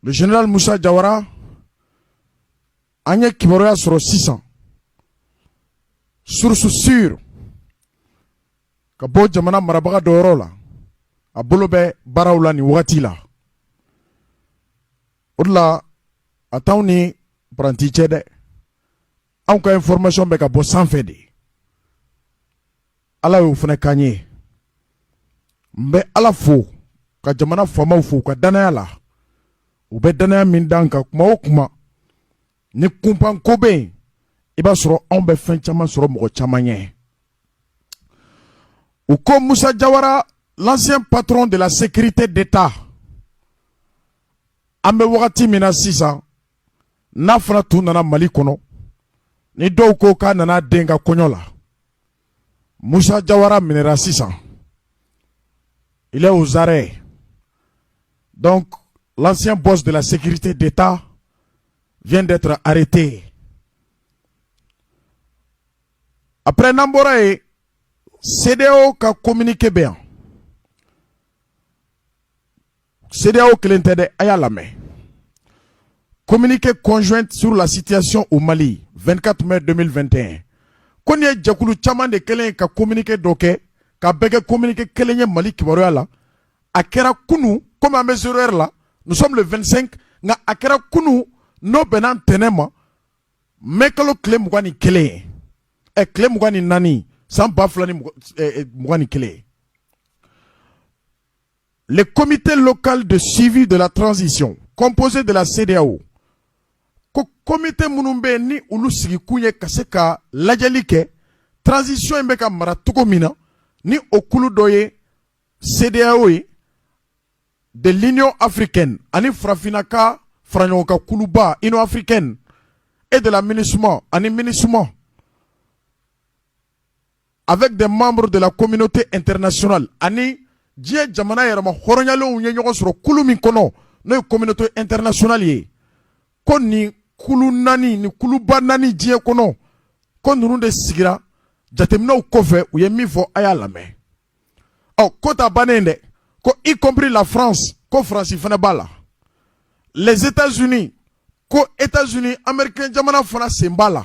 Général musa jawara an ye kibaruya sɔrɔ sisan source sûre ka bɔ jamana marabaga dɔ yɔrɔ la a bolo bɛ baaraw la nin wagati la o de la a t'aw ni paranti cɛ dɛ anw ka information bɛ ka bɔ sanfɛ de ala y'o fana k'an ye n bɛ ala fo ka jamana faamaw fo u ka danaya la u bɛ danaya min d'an kan kuma o kuma ni kunpan ko bɛ yen i b'a sɔrɔ anw bɛ fɛn caman sɔrɔ mɔgɔ caman ɲɛ u ko musa jawara l'ancien patron de la sécurité d'état an bɛ wagati min na sisan n'a fɔra tun nana mali kɔnɔ ni dɔw ko k'a nana den ka kɔɲɔ la musa jawara minɛra sisan il est aux arrêts donc l'ancien boss de la sécurité d'état vient d'être arrêté après n'an bɔra yen CEDEAO ka communiqué bɛ yan CEDEAO kelen tɛ dɛ a y'a lamɛn communiqué conjoint sur la situation au Mali 24 mai 2021 ko nin ye jɛkulu caman de kɛlen ye ka communiqué dɔ kɛ k'a bɛɛ kɛ communiqué kelen ye Mali kibaruya la a kɛra kunu komi an bɛ zéro heure là nous sommes le 25 nka a kɛra kunu n'o bɛnna ntɛnɛn ma mai kalo tile mugan ni kelen ye ɛ tile mugan ni naani san ba fila ni mugan ni kelen Le comité local de suivi de la transition, composé de la CEDEAO, ko komite minnu bɛ ni olu sigikun ye ka se ka lajɛli kɛ transition in bɛ ka mara cogo min na ni o kulu dɔ ye CEDEAO ye de l'Union africaine ani farafinna ka faraɲɔgɔnkan kuluba Union africaine et de la MINUSMA ani MINUSMA avec des membres de la communauté internationale ani diɲɛ jamana yɛrɛmahɔrɔnyalenw ye ɲɔgɔn sɔrɔ kulu min kɔnɔ n'o ye communauté internationale ye ko nin kulu naani nin kuluba naani diɲɛ kɔnɔ ko ninnu de sigira jateminɛw kɔfɛ u ye min fɔ a y'a lamɛn ɔ ko ta bannen dɛ ko y compris la france ko faransi fana b'a la les états unis ko états unis américain jamana fana sen b'a la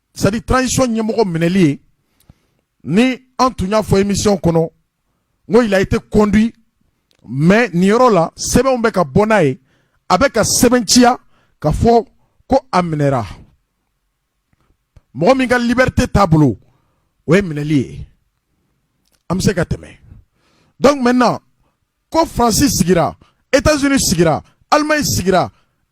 c'est-à-dire transition ɲɛmɔgɔ minɛli ye ni an tun y'a fɔ émission kɔnɔ n ko il a été conduit mais nin yɔrɔ la sɛbɛnw bɛ ka bɔ n'a ye a bɛ k'a sɛbɛnciya k'a fɔ ko a minɛra mɔgɔ min ka liberté t'a bolo o ye minɛli ye an bɛ se ka tɛmɛ donc maintenant ko faransi sigira états unis sigira allemagne sigira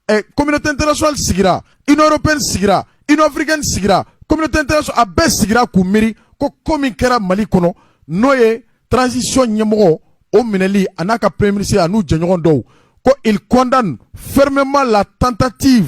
eh, communauté internationale sigira union européenne sigira union africaine sigira communauté internationale a bɛɛ sigira k'u miiri ko ko min kɛra mali kɔnɔ n'o ye transition ɲɛmɔgɔ o minɛli a n'a ka premier ministre a n'u jɛɲɔgɔn dɔw ko ils condamnent fermement la tentative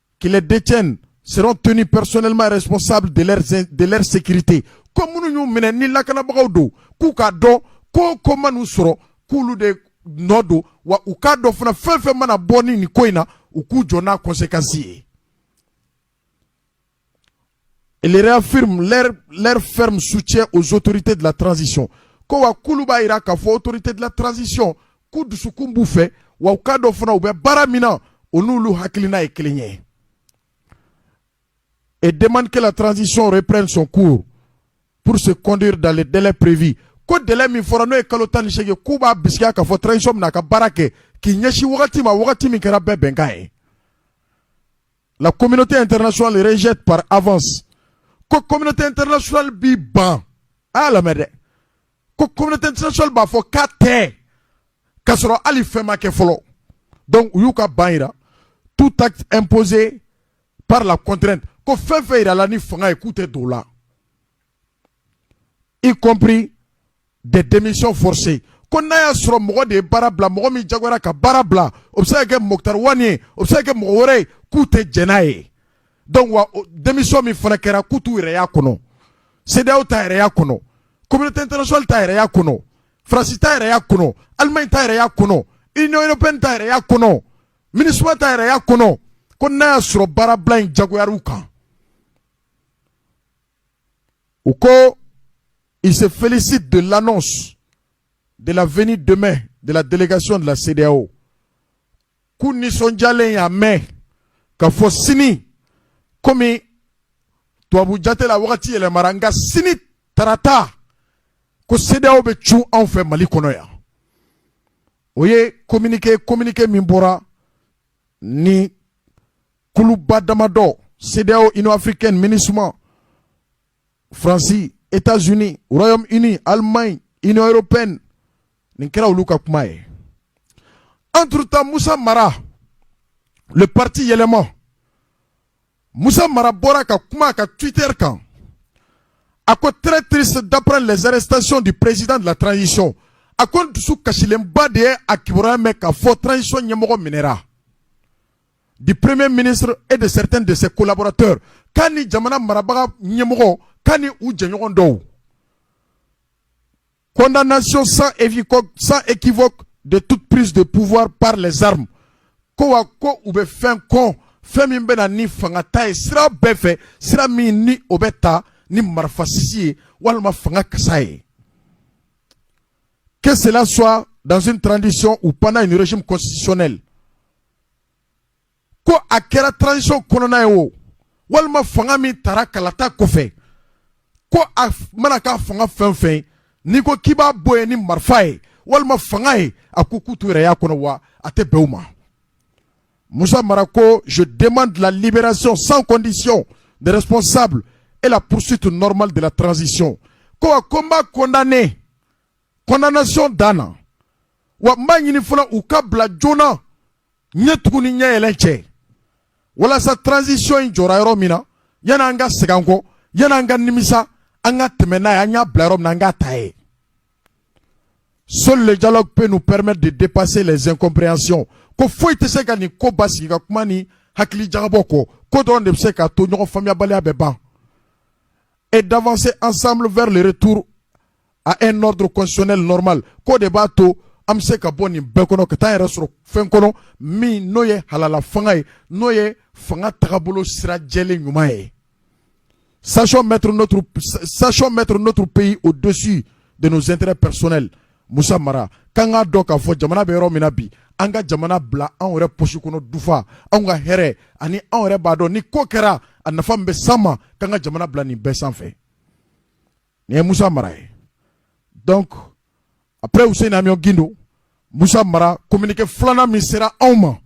kɛlɛdc st psɔnɛma yɛrɛ sɔsa dete ko minnu y'u minɛ ni lakanabagaw don k'u k'a dɔn ko ko man uu sɔrɔ k'olu de nɔ don wa u k'a dɔn fana fɛn fɛn mana bɔ ni nin ko in na u k'u jɔ n'a kɔse kasi ye Ils réaffirment leur ferme soutien aux autorités de la transition ko wa k'olu b'a yira k'a fɔ autorités de la transition k'u dusukun b'u fɛ wa u k'a dɔn fana u bɛ baara min na u n'olu hakilina ye kelen ye et demandent que la transition reprenne son cours pour se conclure dans les délais prévus ko délai min fɔra n'o ye kalo tan ni segin k'u b'a bisigiya k'a fɔ transition bɛna a ka baara kɛ k'i ɲɛsin wagati ma wagati min kɛra bɛɛ bɛnkan ye la communauté internationale rejette par avance ko communauté internationale b'i ban a lamɛn dɛ ko communauté internationale b'a fɔ k'a tɛ k'a sɔrɔ hali fɛn ma kɛ fɔlɔ donc u y'u ka ban yira tout acte imposé par la contrainte ko fɛn fɛn yirala ni fanga ye k'u tɛ don o la y compris des démissions forcées ko n'a y'a sɔrɔ mɔgɔ de ye baara bila mɔgɔ min jagoyara ka baara bila o bɛ se ka kɛ Mokutari Wani ye o bɛ se ka kɛ mɔgɔ wɛrɛ ye k'u tɛ jɛn n'a ye donc wa démission min fana kɛra k'u t'u yɛrɛ y'a kɔnɔ CEDEAO t'a yɛrɛ y'a kɔnɔ communauté internationale t'a yɛrɛ y'a kɔnɔ France t'a yɛrɛ y'a kɔnɔ Allemagne t'a yɛrɛ y'a kɔnɔ Union européenne t'a yɛrɛ y'a kɔnɔ MINUSMA t'a yɛrɛ y'a kɔnɔ ko n'a y'a sɔrɔ baarabila in jagoyar'u kan U ko, ils se félicitent de l'annonce de la venue demain de la délégation de la CEDEAO. K'u nisɔndiyalen y'a mɛn k'a fɔ sini komi tubabu jate la wagati yɛlɛmara nka sini tarata ko CEDEAO bɛ cun anw fɛ Mali kɔnɔ yan. O ye communiqué communiqué min bɔra ni kuluba damadɔ CEDEAO Union africaine MINUSMA France États-Unis Royaume Uni Allemagne Union européenne nin kɛra olu ka kuma ye entre temps Musa Mara le parti yɛlɛma Musa Mara bɔra ka kuma a ka Twitter kan a ko très triste d'apprendre les arrestations du président de la transition a ko n dusukasilenba de ye a kibaruya mɛn k'a fɔ transition ɲɛmɔgɔ minɛra du premier ministre et de certains de ses collaborateurs k'a ni jamana marabaga ɲɛmɔgɔ k'a ni u jɛɲɔgɔn dɔw condamnation sans équivoque de toute prise de pouvoir par les armes ko wa ko u bɛ fɛn kɔn fɛn min bɛ na ni fanga ta ye sira bɛɛ fɛ sira min ni o bɛ ta ni marifa sisi ye walima fanga kasa ye que cela soit dans une transition ou pendant une régime constitutionnel ko a kɛra transition kɔnɔna ye o walima fanga min tara kalata kɔfɛ ko a mana k'a fanga fɛn fɛn n'i ko k'i b'a bɔ yen ni marifa ye walima fanga ye a ko k'u t'u yɛrɛ y'a kɔnɔ wa a tɛ bɛn u ma Moussa Mara ko je demande la libération sans condition des responsables et la poursuite normale de la transition ko a ko n b'a condamné condamnation dan na wa n b'a ɲini fana u ka bila joona ɲɛ tugun ni ɲɛ yɛlɛn cɛ walasa transition in jɔra yɔrɔ min na yanni an ka segin an kɔ yanni an ka nimisa an ka tɛmɛ n'a ye an y'a bila yɔrɔ min na an k'a ta yen seul le dialogue peut nous permettre de dépasser les incompréhensions ko foyi tɛ se ka nin ko basigi ka kuma ni hakili jagabɔ kɔ k'o dɔrɔn de bɛ se k'a to ɲɔgɔn faamuyabaliya bɛ ban et d'avancer ensemble vers le retour à un ordre constitutionnel normal k'o de b'a to an bɛ se ka bɔ nin bɛɛ kɔnɔ ka taa yɛrɛ sɔrɔ fɛn kɔnɔ min n'o ye halala fanga ye n'o ye fanga tagabolo sira jɛlen ɲuman ye sachons mettre notre pays au-dessus de nos intérêts personnels musa mara k'an k'a dɔn k'a fɔ jamana bɛ yɔrɔ min na bi an ka jamana bila an yɛrɛ poche kɔnɔ dufa anw ka hɛrɛ ani anw yɛrɛ b'a dɔn ni ko kɛra a nafa bɛ s'an ma k'an ka jamana bila nin bɛɛ sanfɛ nin ye musa mara ye donc après useni amiɔn gindo musa mara communiqué filanan min sera anw ma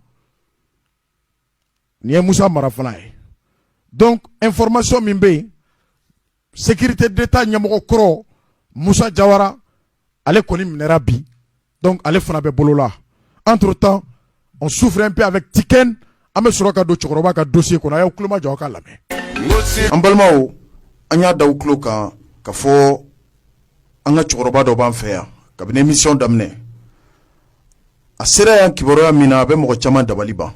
nin ye musa mara fana ye donc information min bɛ yen sécurité d'état ɲɛmɔgɔ kɔrɔ musa jawara ale kɔni minɛra bi donc ale fana bɛ bolo la entre-temps on souffle un peu avec Tiken an bɛ sɔrɔ ka don cɛkɔrɔba ka dossier kɔnɔ a y'aw tulo majɔ aw k'a lamɛn an balimaw an y'a d'aw tulo kan k'a fɔ an ka cɛkɔrɔba dɔ b'an fɛ yan kabini émission daminɛ a sera yan kibaruya min na a bɛ mɔgɔ caman dabali ban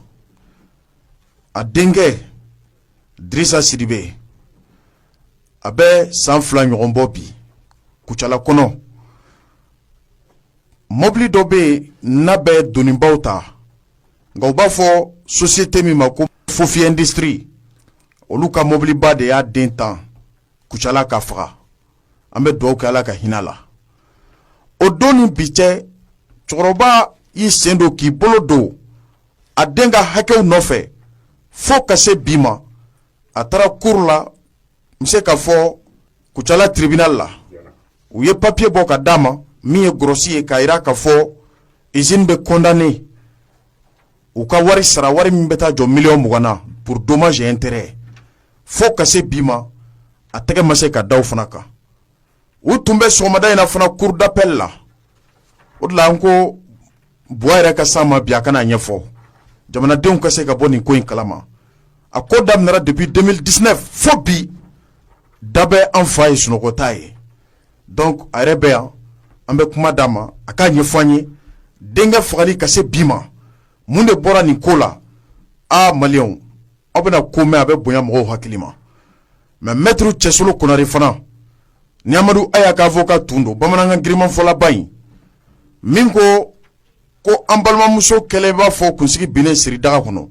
a denkɛ drisa sidibe a bɛ san fila ɲɔgɔn bɔ bi kucala kɔnɔ mɔbili dɔ bɛ yen n'a bɛ donibaw ta nka u b'a fɔ sosiyete min ma ko fofi ɛndisitiri olu ka mɔbiliba de y'a den tan kucala k'a faga an bɛ dugawu kɛ ala ka hinɛ a la o don ni bi cɛ cɛkɔrɔba y'i sen don k'i bolo don a den ka hakɛw nɔfɛ fo ka se bi ma a taara cour la n bɛ se k'a fɔ Kucala tribunal la u ye papier bɔ ka d'a ma min ye grosse ye k'a yira k'a fɔ usine bɛ condamner u ka wari sara wari min bɛ taa jɔ miliyɔn mugan na pour dommage et intérêt fo ka se bi ma a tɛgɛ ma se ka da o fana kan u tun bɛ sɔgɔmada in na fana cour d'appel la o de la an ko buwa yɛrɛ ka s'an ma bi a ka n'a ɲɛfɔ jamanadenw ka se ka bɔ nin ko in kalama a ko daminɛra depuis 2019 fo bi da bɛ an fa ye sunɔgɔta ye donc a yɛrɛ bɛ yan an bɛ kuma d'a ma a k'a ɲɛfɔ an ye denkɛ fagali ka se bi ma mun de bɔra nin ko la aa maliyɛnw aw bɛna ko mɛn a bɛ bonya mɔgɔw hakili ma mɛ mɛtiri cɛsolo konare fana ni amadu aya ka avoka tun don bamanankan girinmanfɔlaba in min ko ko an balimamuso kelen b'a fɔ kunsigi binnen siri daga kɔnɔ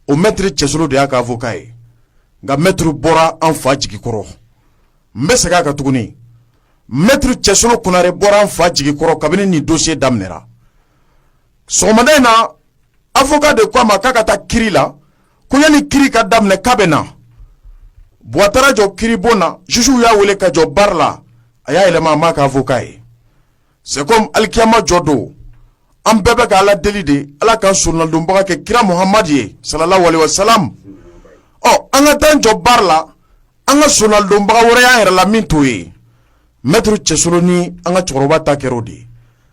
o mɛtiri cɛsolo de y'a ka avoka ye nka mɛtiri bɔra an fa jigi kɔrɔ n bɛ segin a kan tuguni mɛtiri cɛsolo konare bɔra an fa jigi kɔrɔ kabini nin dosiye daminɛra sɔgɔmada in na avoka de ko a ma k'a ka taa kiri la ko yanni kiri ka daminɛ k'a bɛ na buwa taara jɔ kiribon na juge y'a wele ka jɔ bari la a y'a yɛlɛma a m'a ka avoka ye c'est comme alikiyama jɔ don an bɛɛ bɛ ka ala deli de ala k'an sonnadonbaga kɛ kira muhamadi ye salalahu alayihi wasalam ɔ an ka taa jɔ bari la an ka sonnadonbaga wɛrɛ y'an yɛrɛ la min t'o ye mɛtiri cɛsolo ni an ka cɛkɔrɔba ta kɛra o de ye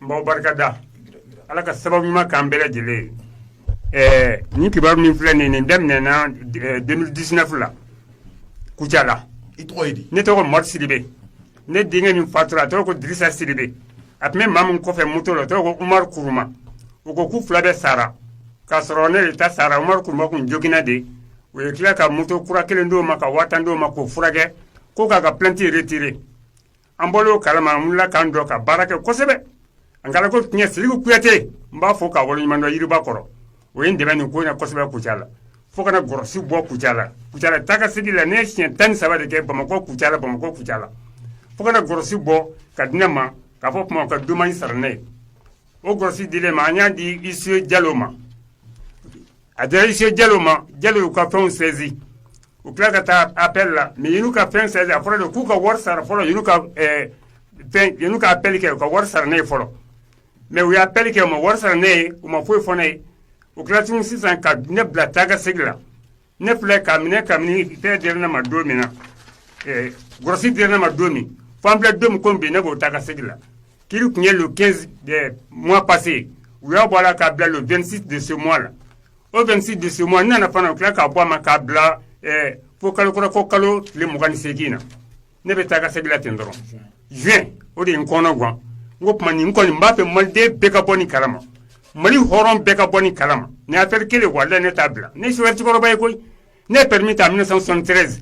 n b'aw barika da Ala ka sababu ɲuman k'an bɛɛ lajɛlen ye, ɛɛ nin kibaru min filɛ nin ye nin daminɛna 2019 la Kucala, i tɔgɔ ye di? ne tɔgɔ Mɔmɛdi Sidibe, ne denkɛ min fatura a tɔgɔ ko Dirisa Sidibe, a tun bɛ maa min kɔfɛ moto la o tɔgɔ ko Umaru Kuruma, u ko k'u fila bɛɛ sara k'a sɔrɔ ne de ta sara Umaru Kuruma kun joginna de, u ye tila ka moto kura kelen d'o ma ka 10000 d'o ma k'o furakɛ ko k'a ka plainte retirer An bɔlen o kalama an wulila k'an jɔ ka baara kɛ kosɛbɛ an kana ko tiɲɛ Siriki Kuyate n b'a fɔ k'a waleɲuman dɔn Yiriba kɔrɔ o ye n dɛmɛ nin ko in na kosɛbɛ Kucala la fo ka na Gɔrɔsi bɔ Kucala, Kucala taa ka segin la ne ye siɲɛ tan ni saba de kɛ Bamakɔ Kucala, Bamakɔ Kucala fo ka na Gɔrɔsi bɔ ka di ne ma k'a fɔ o tuma u ka dommage sara ne ye o Gɔrɔsi dilen ma an y'a di huissier Jalo ma A dira huissier Jalo ma Jalo y'u ka fɛnw saisi u tila ka taa appel la mais u ka fɛn saisi a fɔra de k'u ka wari sara fɔlɔ u ka appel kɛ u ka wari sara ne ye fɔlɔ mais u ye appel kɛ u ma wari sara ne ye u ma foyi fɔ ne ye u tila tuguni sisan ka ne bila taa ka segin la ne filɛ k'a minɛ kabini fɛn dira ne ma don min na gɔrɔsi dira ne ma don min fo an filɛ don min ko bi ne b'o taa ka segin la Kiri tun ye le 15 eh, mois passé u y'a bɔ a la k'a bila le 26 de ce mois la o 26 de ce mois n nana fana u tila k'a bɔ a ma k'a bila eh, fo kalo kura ko kalo tile mugan ni seegin na ne bɛ taa ka segin la ten dɔrɔn juin o de ye n kɔnɔ gan n ko tuma nin n kɔni n b'a fɛ maliden bɛɛ ka bɔ nin kalama mali hɔrɔn bɛɛ ka bɔ nin kalama nin affaire kelen walayi ne t'a bila ne ye chauffeur cɛkɔrɔba ye koyi Ne ye permis ta 1973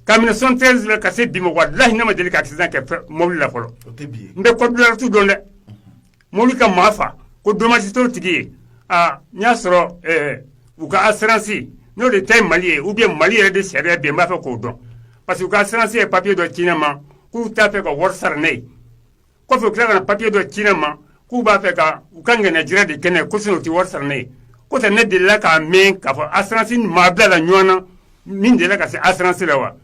ka 1973 la ka se bi ma walahi ne ma deli ka accident kɛ mobili la fɔlɔ, n bɛ code de la route dɔn dɛ, mobili ka maa fa ko dommage t'o tigi ye aa n y'a sɔrɔ ɛɛ u ka assurance n'o de ta ye Mali ye ou bien Mali yɛrɛ de sariya bɛ yen n b'a fɛ k'o dɔn parce que u ka assurance ye papier dɔ ci ne ma k'u t'a fɛ ka wari sara ne ye kɔfɛ u tila ka na papier dɔ ci ne ma k'u b'a fɛ ka u ka ŋɛnɛjira de kɛ ne ye ko sinon u tɛ wari sara ne ye ko tɛ ne delila k'a mɛn k'a fɔ assurance maa bila la ɲɔgɔn na min delila ka se assurance la wa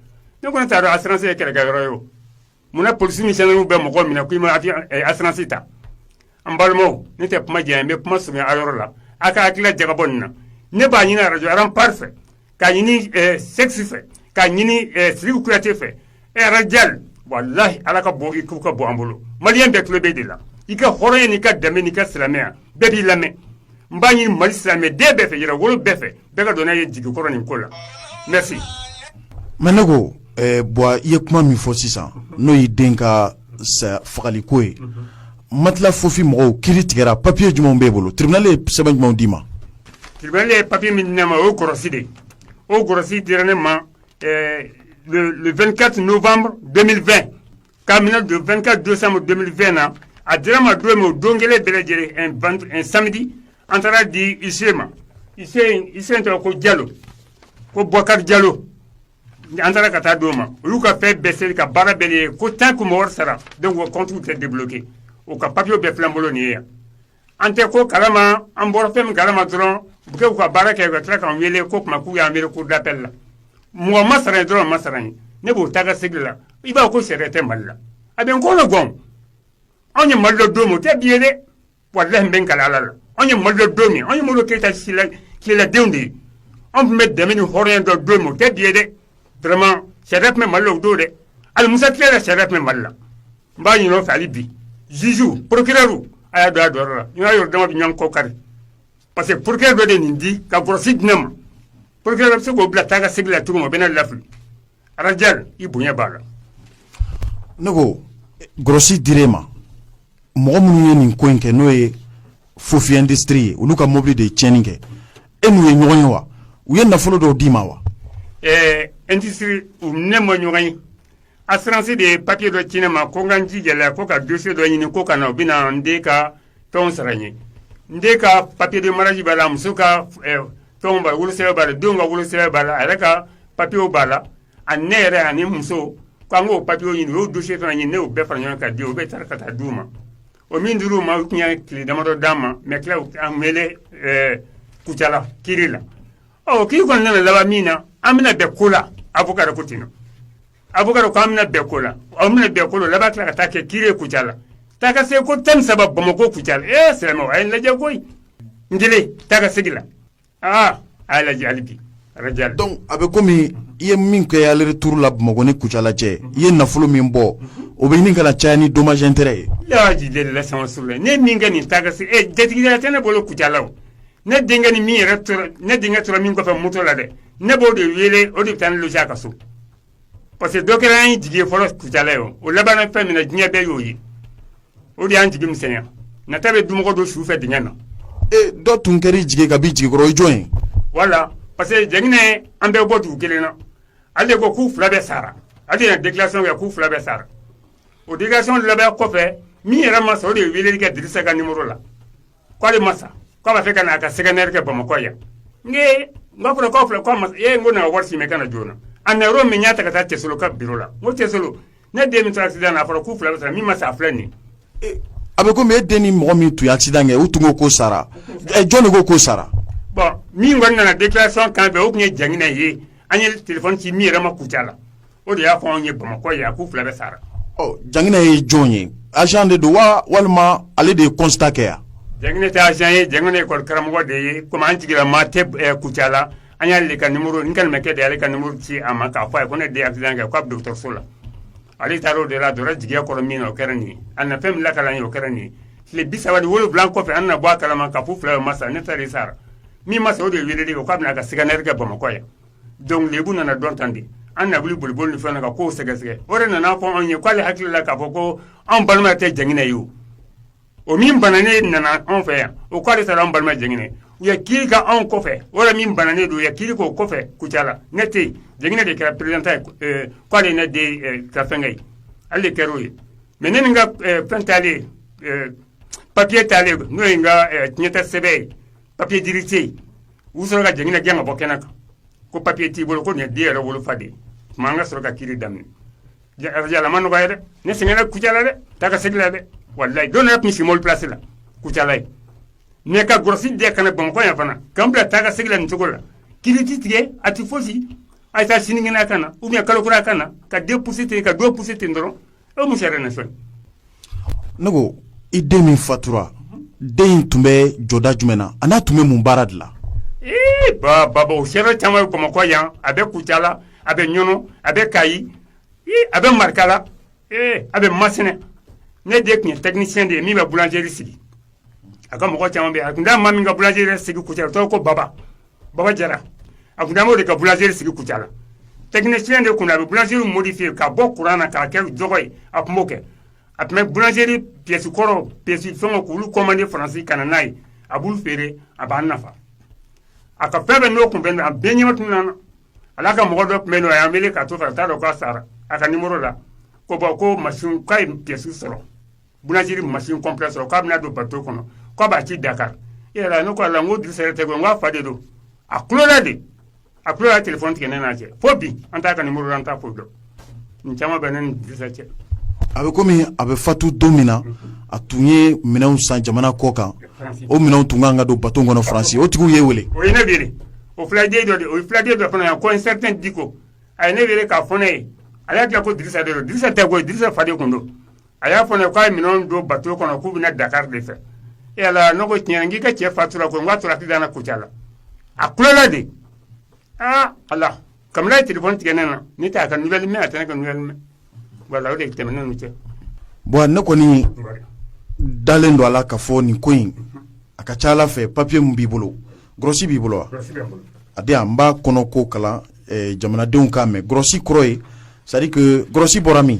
ne kɔni t'a dɔn assurance ye kɛlɛkɛyɔrɔ ye o munna polisi ni gendarmerie bɛ mɔgɔ minɛ k'i ma eh, assurance ta an balimaw ne tɛ kuma janya n bɛ kuma surunya a yɔrɔ la a ka hakilila jagabɔ nin na ne b'a ɲini arajo Rempart fɛ K'a ɲini Sexe fɛ k'a ɲini Siriki Kuyate fɛ ɛ Ras Dial walahi ala ka bɔ k'u ka bɔ an bolo maliyɛn bɛɛ tulo b'e de la i ka hɔrɔnya n'i ka danbe n'i ka silamɛya bɛɛ b'i lamɛn n b'a ɲini mali silamɛden bɛɛ fɛ yɛrɛwolo bɛɛ fɛ bɛɛ ka don ne jigi kɔrɔ nin ko la merci mais ne ko Ɛɛ Buwa i ye kuma min fɔ sisan n'o y'i den ka saya fagaliko ye matila fofi mɔgɔw kiiri tigɛra papier jumɛnw b'e bolo tribunal ye sɛbɛn jumɛnw d'i ma tribunal ye papier min di ne ma o ye gɔrɔsi de o gɔrɔsi dira ne ma le 24 novembre 2020 k'a minɛ le 24 décembre 2020 na a dira ma don min o don kelen bɛɛ lajɛlen samedi an taara di huissier ma huissier tɔgɔ ko Jalo ko Bokari Jalo An taara ka taa d'u ma u y'u ka fɛn bɛɛ seli ka baara bɛɛ ye ko tant que mɔgɔ sara kɔntu tɛ debuloki u ka papiye bɛɛ filɛ an bolo nin ye yan an tɛ ko kalama an bɔra fɛn min kalama dɔrɔn u kɛ u ka baara kɛ ka tila k'an wele ko tuma k'u y'an wele cour d'appel la mɔgɔ ma sara dɔrɔn ma sara ye ne b'o taa ka segin la i b'a ko sariya tɛ mali la a bɛ n kɔnɔ gan anw ye mali dɔn don min o tɛ bi ye dɛ walayi n bɛ n kali ala la anw ye mali dɔn don min anw ye Modibo Keyita tileladenw de ye anw tun bɛ danbe ni hɔrɔnya dɔn don min o tɛ bi ye dɛ vraiment sariya tun bɛ mali la o don dɛ hali Musa tile la sariya tun bɛ mali la n b'a ɲini u fɛ hali bi juge procureurw a y'a don a jɔyɔrɔ la n'a yɛrɛ dama bɛ ɲɔgɔn kɔ kari parce que procureur dɔ de nin di ka grosse di ne ma procureur bɛ se k'o bila taa ka segin la tugun o bɛ ne lafili Arajal i bonya b'a la ne ko grosse dir'e ma mɔgɔ minnu ye nin ko in kɛ n'o ye Fofi industrie ye olu ka mɔbili de ye tiɲɛni kɛ e n'u ye ɲɔgɔn ye wa u ye nafolo dɔw d'i ma wa industrie u ne ma ɲɔgɔn ye assurance de ye papiye dɔ ci ne ma ko n ka n ji gɛlɛya ko ka dossier dɔ ɲini ko ka na u bɛna n den ka tɔn sara n ye n den ka papier de mariage b'a la muso ka fɛnw b'a la wolosɛbɛn b'a la denw ka wolosɛbɛn b'a la a yɛrɛ ka papiers b'a la ani ne yɛrɛ ani n muso k'an k'o papiers ɲini u y'o dossiers fana ɲini ne y'o bɛɛ fara ɲɔgɔn kan ka di u bɛ taara ka taa d'u ma o min dir'u ma u tun ye tile damadɔ d'an ma mais tila an wele Kucala kiri la ɔ kiri kɔni nana laban min na an bɛna bɛn ko la avocat de ko ten Avocat k'an bɛna bɛn ko la an bɛna bɛn ko laban tila ka taa kɛ kiri ye Kucala taa ka se ko tan ni saba bamakɔ Kucala sira a ye lajɛ ko n kelen taa ka segin la aa a ye lajɛ hali bi Arajal donc a bɛ komi i ye min kɛ aller retour la bamakɔ ni Kucala cɛ i ye nafolo min bɔ o bɛ ɲini ka na caya ni dommage intérêt ye ji deli la sama suru la ne min kɛ nin taa ka segin jatigi tɛ ne bolo Kucala ne denkɛ ni min yɛrɛ tora ne denkɛ tora min kɔfɛ moto la dɛ ne b'o de wele o de bɛ taa ne loger a ka so parce que dɔ kɛra an ye jigi ye fɔlɔ Kucala ye o labanna fɛn min na diɲɛ bɛɛ y'o ye o de y'an jigi misɛnya nata bɛ dumɔgɔ don su fɛ dingɛ na e dɔ tun kɛra i jigi ka b'i jigi kɔrɔ o ye jɔn ye voilà parce que jɛginɛ an bɛɛ bɔ dugu kelen na ale de ko k'u fila bɛɛ sara ale de ye déclaration kɛ k'u fila bɛɛ sara o déclaration labɛn kɔfɛ min yɛrɛ ma sa o de ye weleli kɛ Dirisa ka numéro la k'ale ma sa k'a b'a fɛ ka na a ka scanner kɛ bamakɔ yan n n b'a kɔnɔkaw filɛ k'a ma e ko na wari si mɛn ka na joona a na yɔrɔ min y'a ta ka taa cɛso ka biro la n ko cɛso ne den min tora accident na a fɔra k'u fila sara min ma sa filɛ nin a bɛ komi e den ni mɔgɔ min tun ye accident kɛ u tun ko k'o sara jɔn de ko k'o sara bon min kɔni nana déclaration kan fɛ o tun ye jɛginɛ ye an ye téléphone ci min yɛrɛ ma Kucala o de y'a fɔ anw ye bamakɔ yan k'u fila bɛɛ sara ɔ janginɛ ye jɔn ye agent de don wa walima ale de ye constat kɛ yan janginɛ tɛ agent ye janginɛ ye école karamɔgɔ de ye comme an jigilamaa tɛ ɛ Kucala la an y'ale de ka numéro n kɛlenbɛkɛ de y'ale ka numéro ci a ma k'a fɔ a ye ko ne den ye accident kɛ k'a bɛ dɔgɔtɔrɔso la ale taara o de la a donna jigiya kɔrɔ min na o kɛra nin ye a na fɛn min lakali an ye o kɛra nin ye tile bi saba ni wolonwula kɔfɛ an na bɔ a kalama k'a fɔ u fila bɛɛ ma sa ne ta de sara min ma sa o de ye weleli kɛ ko a bɛna a ka scanner kɛ bamakɔ yan Dɔnku lebu nana don tan de an na wuli boliboli ni fana ka ko sɛgɛsɛgɛ o de nana fɔ anw ye k'ale hakili la k'a fɔ ko anw balima tɛ janginɛ ye o o min bananen nana anw fɛ yan o k'ale taara an balima janginɛ u ye kiri kɛ anw kɔfɛ o min bananen don u ye kiri k'o kɔfɛ kucala ne tɛ yen janginɛ de kɛra pereta k'ale ne den ka fɛnkɛ ye ale kɛra o ye mɛ ne ni n ka fɛn taalen papiye taalen n'o ye n ka tiɲɛta sɛbɛn ye papiye d'hérédité ye u sɔrɔ ka janginɛ gɛn ka bɔ kɛnɛ kan ko papiye t'i bolo ko nin ye den yɛrɛ wolofa de ye tuma an ka sɔrɔ ka kiri daminɛ yala a ma nɔgɔya dɛ ne sɛgɛnna kucala dɛ taa ka segin la dɛ walayi don yɛrɛ tun si mɔbili plasi la kucala yen ne ka gsi de ka na bamakɔ yan fana k'an bila taa ka segin la nin cogo la kiri tɛ tigɛ a tɛ fosi a taa sinikɛnɛ a ka na ou bien kalo kura a ka na ka don pousser ten ka don pousser ten dɔrɔn e mu yɛrɛ na sɔn ne ko i den min fatura den in tun bɛ jɔda jumɛn na an'a tun bɛ mun baara de la baba o seere caman bɛ bamakɔ yan a bɛ kucala a bɛ ɲɔnɔ a bɛ kayi a bɛ marikala a bɛ masina ne den tun ye tɛkinisiyɛn de ye min bɛ bulanzeri sigi a ka mɔgɔ caman bɛ a tun taa maa min ka bulanzeri sigi kucala o tɔgɔ ko baba baba jara a tun taa o de ka bulanzeri sigi kucala tɛkinisiyɛn de kun a bɛ bulanzeri modifiye ka bɔ kuran na k'a kɛ jɔgɔ ye a tun b'o kɛ a tun bɛ bulanzeri piyɛsi kɔrɔ piyɛsi fɛngɛ k'olu kɔmande faransi ka na n'a ye a b'u feere a b'an nafa a ka fɛn bɛɛ n'o kun bɛ a bɛɛ ɲɛma tun nana hali a ka mɔgɔ dɔ tun bɛ ɲɔnɔ a y'an wele k'a to a t'a dɔn k'a sara a ka nimoro la ko bɔn ko masin k'a ye piyɛsi sɔrɔ Bulanzeri masin kɔnpilɛ sɔrɔ k'a bɛna don bato kɔnɔ k'a b'a ci dakari e yɛrɛ n'a la n ko drisa tɛ n k'a fa de don a kulela de a kulela telefɔni tigɛ ne n'a cɛ fo bi an t'a ka nimoro an t'a ko dɔn nin caman bɛ ne ni drisa cɛ a bɛ kɔmi a bɛ fatu don min na a tun ye minɛn san jamana kɔ kan o minɛn tun kan ka don bato kɔnɔ faransi o tigi ye weele o ye ne weele o fulajɛ dɔ o fulajɛ dɔ fana yan ko un certain diko a ye ne weele k'a fɔ ne ye a y'a diya ko drisa de drisa tɛ koyi drisa fa de tun don a y'a fɔ k'a ye minɛn don bato kɔnɔ k'u bɛna dakari de fɛ e n ko tiɲɛ na k'i ka cɛ fatura ko n'a tora k'i da kucala a kulola de aa ala kabini a ye telefɔni tigɛ ne na ne t' a ka nuvɛli mɛn a tɛ ne ka nuvɛli mɛn wala o de tɛmɛnen anw cɛ bɔn ne kɔni dalen don a la ka fɔ nin ko in a ka ca ala fɛ papiye min b'i bolo gɔrɔsi b'i bolo wa a di an b'a kɔnɔ ko kalan eh, jamanadenw k'a mɛn gɔrɔsi kɔrɔ ye c'est-à-dire que gɔrɔsi bɔra min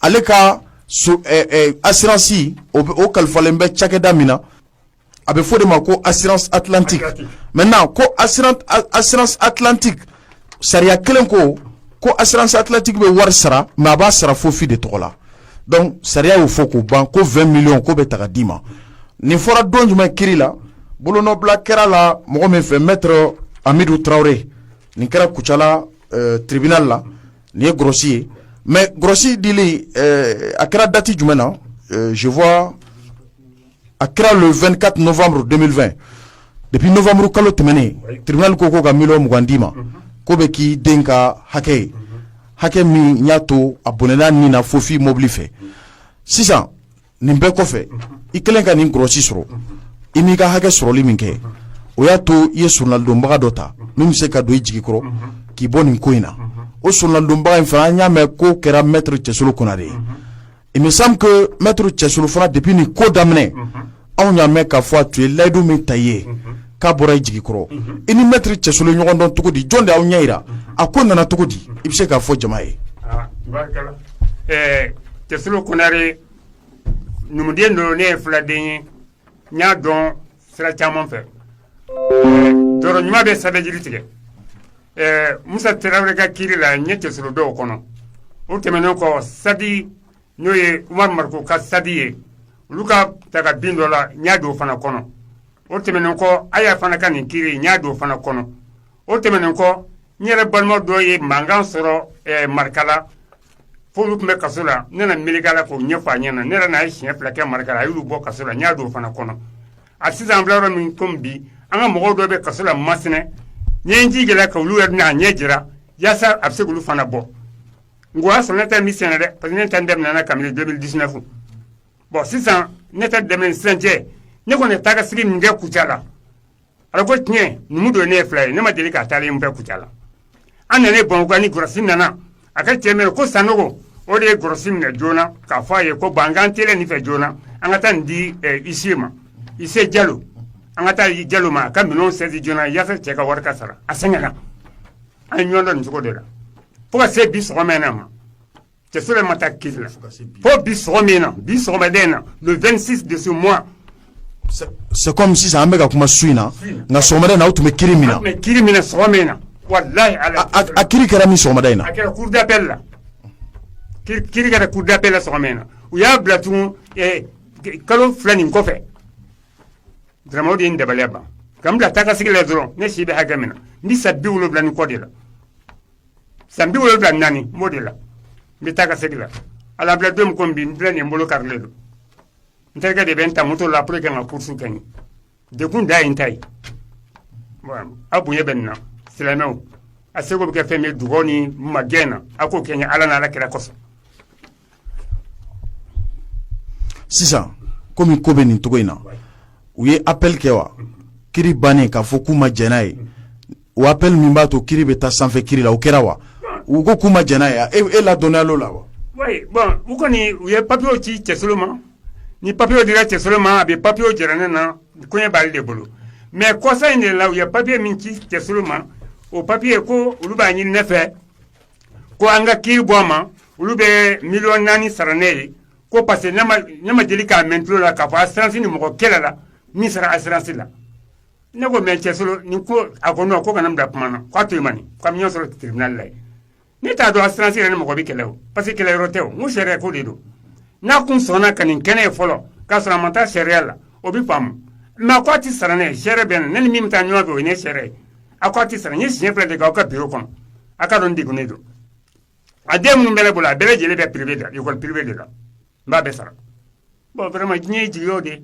ale ka asiransi o kalifalen bɛ cakɛda min na a bɛ fɔ de ma ko asiransi atlantiki mɛtɛnan ko asiransi atlantiki sariya kɛlen kɔ ko asiransi atlantiki bɛ wari sara mɛ a b'a sara fofi de tɔgɔ la dɔnku sariya y'o fɔ k'o ban ko vingt millions k'o bɛ ta k'a d'i ma nin fɔra don jumɛn kiri la bolonɔbila kɛra a la mɔgɔ min fɛ mɛtiri amidu tarawele nin kɛra kucala tribinali la Nin ye gɔrɔsi ye mɛ gɔrɔsi dili a kɛra dati jumɛn na je vois a kɛra le 24 novembre 2020 depuis novembre kalo tɛmɛnen tiribinali ko k'u ka miliyɔn mugan d'i ma k'o bɛ k'i den ka hakɛ ye hakɛ min y'a to a bɔnɛna nin na fofi mobili fɛ sisan nin bɛɛ kɔfɛ i kɛlen ka nin gɔrɔsi sɔrɔ i m'i ka hakɛ sɔrɔli min kɛ o y'a to i ye soronadonbaga dɔ ta min bɛ se ka don i jigi kɔrɔ k'i bɔ nin ko in na o soronadonbaga in fana an y'a mɛn k'o kɛra mɛtiri cɛsolo konare ye il me semble que mɛtiri cɛsolo fana depuis nin ko daminɛ anw y'a mɛn k'a fɔ a tun ye layidu min ta i ye k'a bɔra i jigi kɔrɔ i ni mɛtiri cɛsolo ɲɔgɔn dɔn cogo di jɔn de y'aw ɲɛ yira a ko nana cogo di i bɛ se k'a fɔ jama ye cɛsolo konare numuden don ne ye filaden ye n y'a dɔn sira caman fɛ tɔɔrɔ ɲuman bɛ sɛbɛn jiri tigɛ musa tarawele ka kiri la n ye cɛsolo dɔn o kɔnɔ o tɛmɛnen kɔ sadi n'o ye umaru mariko ka sadi ye olu ka daga bin dɔ la n y'a dɔn o fana kɔnɔ o tɛmɛnen kɔ aya fana ka nin kiri n y'a dɔn o fana kɔnɔ o tɛmɛnen kɔ n yɛrɛ balima dɔ ye mankan sɔrɔ eh, marakala f'olu tun bɛ kaso la ne na meleke a la k'o ɲɛfɔ a ɲɛna ne yɛrɛ n'a ye siɲɛ fila kɛ marakala a y'olu bɔ kaso la n y'a dɔn o fana kɔnɔ a sisan an bila yɔrɔ min komi bi an ka mɔgɔw dɔ bɛ kaso la masina n ye n jija a la ka olu yɛrɛ n'a ɲɛ jira yaasa a bɛ se k'olu fana bɔ nka o y'a sɔrɔ ne ta nin sen na dɛ parce que ne ta in daminɛna kabini 2019 bon sisan ne ta daminɛ sisan cɛ ne kɔni taa ka sigi min kɛ kucala ala ko tiɲɛ numu don ne ye fila ye ne ma deli k'a taalen fɛ kucala an nana bamakɔ ni gɔrɔsi nana a ka cɛ min ko sanogo o de ye gɔrɔsi minɛ joona k'a fɔ a ye ko ban k'an teliya nin fɛ joona an ka taa nin di ise ma ise jalo an ka taa jalo ma a ka minɛnw sɛzi joona yaasa cɛ ka wari ka sara a sɛgɛnna An ye ɲɔgɔn dɔn nin cogo de la fo ka se bi sɔgɔma in na ma cɛsolo ma taa kiri la fo bi sɔgɔma in na bi sɔgɔmada in na le vingt-six de ce mois c'est comme sisan an bɛka kuma su in na nka sɔgɔmada in na aw tun bɛ kiri min na kiri minɛ sɔgɔma in na a kiri kɛra min sɔgɔma in na a kɛra cour d'appel la kiri kɛra cour d'appel la sɔgɔma in na u y'a bila tugun kalo fila nin kɔfɛ Vraiment o de ye n dabali ban ka n bila taa ka segin la dɔrɔn ne si bɛ hakɛ min na n bɛ san bi wolowula ni kɔ de la san bi wolowula naani n b'o de la n bɛ taa ka segin la ala bila don min ko bi n filɛ nin n bolo karilen don n terikɛ de bɛ n ta moto la pour que ka n ka course kɛ n ye degun dan ye n ta ye aw bonya bɛ nin na silamɛw a seko bɛ kɛ fɛn min dugawu ni magɛn na a k'o kɛ n ye ala ni ala kira kɔsɔn Sisan kɔmi ko bɛ nin cogo in na u ye appel kɛ wa kiri bannen k'a fɔ k'u ma jɛn n'a ye o appel min b'a to kiri bɛ taa sanfɛ kiri la o kɛra wa u ko k'u ma jɛn n'a ye e ladɔnniya l'o la wa bon u kɔni u ye papiye ci cɛsolo ma ni papiye dira cɛsolo ma a bɛ papiye jira ne na koɲɛ b'ale de bolo mais kɔsa in de la u ye papiye min ci cɛsolo ma o papiye ko olu b'a ɲini ne fɛ ko an ka kiri bɔ a ma olu bɛ miliyɔn naani sara ne ye ko parce que ne ma deli k'a mɛn tulo la k'a fɔ assurance ni mɔgɔ kɛlɛla min sara assurance la ne ko mais cɛsolo nin ko a ko non ko kana n bila kuma na k'a to mani k'an ka ɲɔgɔn sɔrɔ tiribinali la ne t'a dɔn assurance yɛrɛ ni mɔgɔ bɛ kɛlɛ o parce que kɛlɛ yɔrɔ tɛ o n ko sariya ko de don n'a kun sɔnna ka nin kɛ ne ye fɔlɔ k'a sɔrɔ a ma taa sariya la o bɛ faamu mais a ko a tɛ sara ne ye sariya bɛ na ne ni min bɛ taa ɲɔgɔn fɛ o ye ne sariya ye a ko a tɛ sara n ye siɲɛ fila de k'a ka biro kɔnɔ a k'a dɔn n degunnen don a den minnu bɛ ne bolo a bɛɛ lajɛlen bɛ privé de la école privé de la n b'a bɛɛ sara bon vraiment diɲɛ ye jigi o de